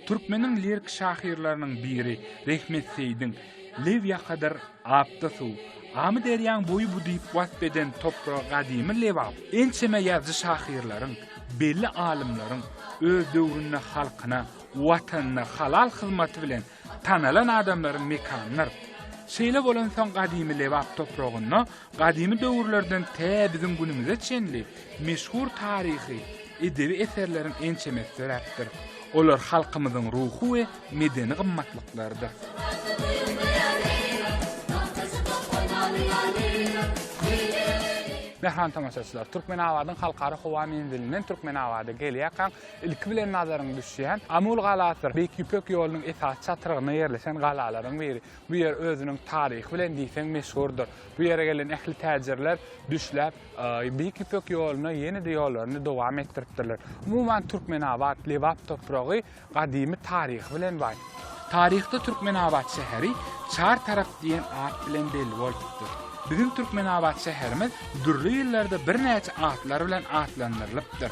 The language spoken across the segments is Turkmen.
Türkmeniň lirik şahyrlarynyň biri Rehmet Seýdiň Lew ýakadyr apda suw, Amy derýaň boýy bu diýip wasp eden topragy gadymy Lebap ençeme ýazyjy şahyrlaryň, belli alymlaryň öz döwründe halkyna, Watanyna halal hyzmaty bilen Tanalan adamlaryň mekanydyr. Şeýle bolansoň gadymy Lebap topragynda gadymy döwürlerden tä biziň günümize çenli meşhur taryhy, edebi eserleriň ençemesi döräpdir. Olar halkymyzyň ruhy we medeni gymmatlyklarydyr. Mähriban tomaşaçylar, Türkmenabadyň Halkara howa menzilinden Türkmenabada gelýärkäň, Ilki bilen nazaryňy düşýän Amul galasydyr. Beýik Ýüpek ýolunyň esasy çatrygynda ýerleşen galalaryň biri. Bu ýer özüniň taryhy bilen diýseň meşhurdyr. Bu ýere gelen ähli täjirler düşläp, Beýik Ýüpek ýoluna ýene-de ýollaryny dowam etdiripdirler. Umuman, Türkmenabat, Lebap topragy gadymy taryhy bilen baý. Taryhda Türkmenabat şäheri Çar tarap diýen at bilen belli bolupdyr. Biziň Türkmenabat şäherimiz dürli ýyllarda birnäçe atlar bilen atlandyrylypdyr.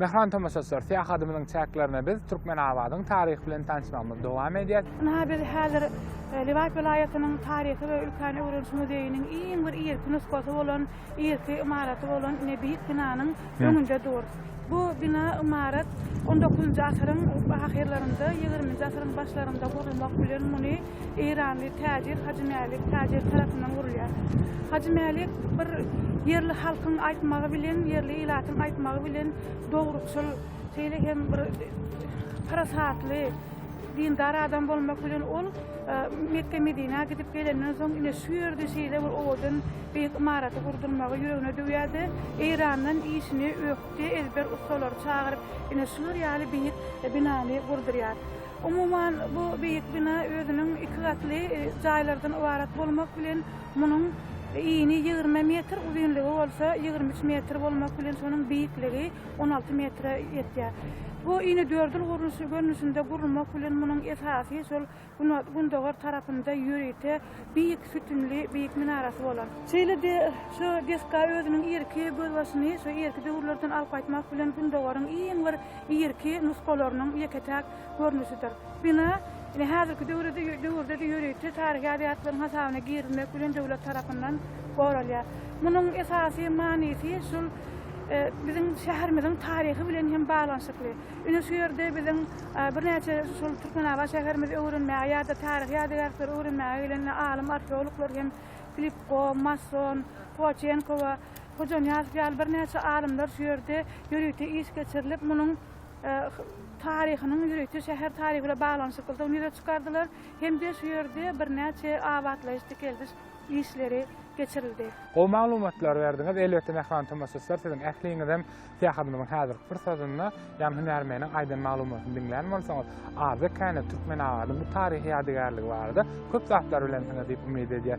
Mähriban tomaşaçylar, syýahadymyzyň çäklerinde biz Türkmenabadyň taryhy bilen tanyşmagymyzy dowam edýäs. Ynha, biz häzir Lebap welaýatynyň Taryhy we ülkäni öwreniş muzeýiniň iň bir irki nusgasy bolan, irki ymaraty bolan ine beýik binanyň öňünde durus. Bu bina, ymarat on dokuzynjy asyryň ahyrlarynda, ýigriminji asyryň başlarynda gurulmak bilen, muny, Eýranly täjir Hajy Mälik täjir tarapyndan gurulýar. Hajy Mälik bir ýerli halkyň aýtmagy bilen, ýerli ilatyň aýtmagy bilen dogrukçyl, şeýle hem bir parasatly, dindar adam bolmak bilen ol Mekge-Medinä gidip gelenden soň ine şu ýerde şeýle bir owadan beýik ymaraty gurdurmagy ýüregine düwýärdi. Eýrandan işini ökde ezber ussalary çagyryp, ine şular ýaly beýik binany gurdurýar. Umuman, bu beýik bina özüniň iki gatly jaýlardan ybarat bolmak bilen, munuň yny ýigrimi metr, uzynlygy bolsa ýigrimi üç metr bolmak bilen, şonuň beýikligi on alty metre ýetýär. Bu yny dördül gurluşy görnüşinde gurulmak bilen, munuň esasy şol gündogar tarapynda ýörite Beýik sütünli, beýik minarasy bolan. Şeýle-de şu desga özüniň irki gözbaşyny şu irki döwürlerden alyp gaýtmak bilen Gündogaryň iň bir irki nusgalarynyň ýeke-täk görnüşidir. Bina ine häzirki döwürde döwürde-de ýörite taryhy ýadygärlikleriň hasabyna girizilmek bilen döwlet tarapyndan goralýar. Munuň esasy manysy şul biziň şäherimiziň taryhy bilen hem baglanyşykly. Ine şu ýerde biziň birnäçe şol Türkmenabat şäherimizi öwrenmäge ýa-da taryhy ýadygärlikleri öwrenmäge gelen alym arheologlar hem Filipko, Masson, Twaçenko we Hojanyýazow ýaly birnäçe alymlar şu ýerde ýörite iş geçirilip, munuň taryhynyň ýörite şäher taryhy bilen baglanyşyklydygyny ýüze çykardylar hem-de şu ýerde birnäçe abatlaýyş-dikeldiş işleri geçirildi. Gowy maglumatlar berdiňiz. Elbetde mähriban tomaşaçylar siziň ähliňizem Syýahatymyzyň häzirki bir sözünde ýan hünärmeniň aýdan maglumatyny diňlän bolsaňyz, Arda käne Türkmenabadyň bu taryhy ýadygärligi barada köp zatlar bilensiňiz diýip umyt edýär.